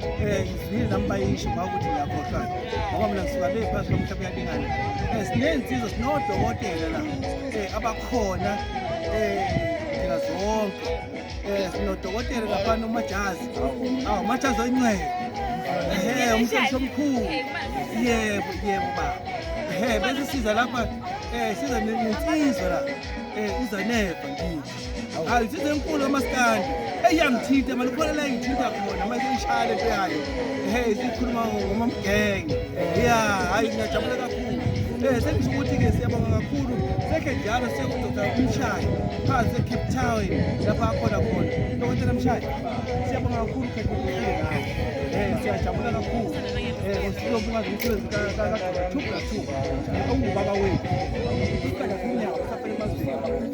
Eh, ngizwile nami bayisho uma ukuthi ngiyakhohlwa ngoba mina ngisuka le phansi komhlaba uyalingana um eh, siney'nsiza sinodokotela la um abakhona um thina zonke um sinodokotela laphana umajazi aw umajazi oyincele ehe umsebenzi omkhulu yebo yebo baba ehe bese siza lapha um siza nensizwa la um izaneva ngithi hayi size enkulu kamaskandi eyangithinta mani khona la engithinta khona manje ishaya le nto yayo hey sikhuluma ngomamgenge ya hayi ngiyajabula kakhulu um sengisho ukuthi-ke siyabonga kakhulu sekhe njalo sekudoda umshayi phansi ecape town lapho akhona khona dokotela mshayi siyabonga kakhulu khekhuaa um siyajabula kakhulu um silobuka zomsebenzi kagathuka two ongubaba wethu ukukala kunyawo safanele mazini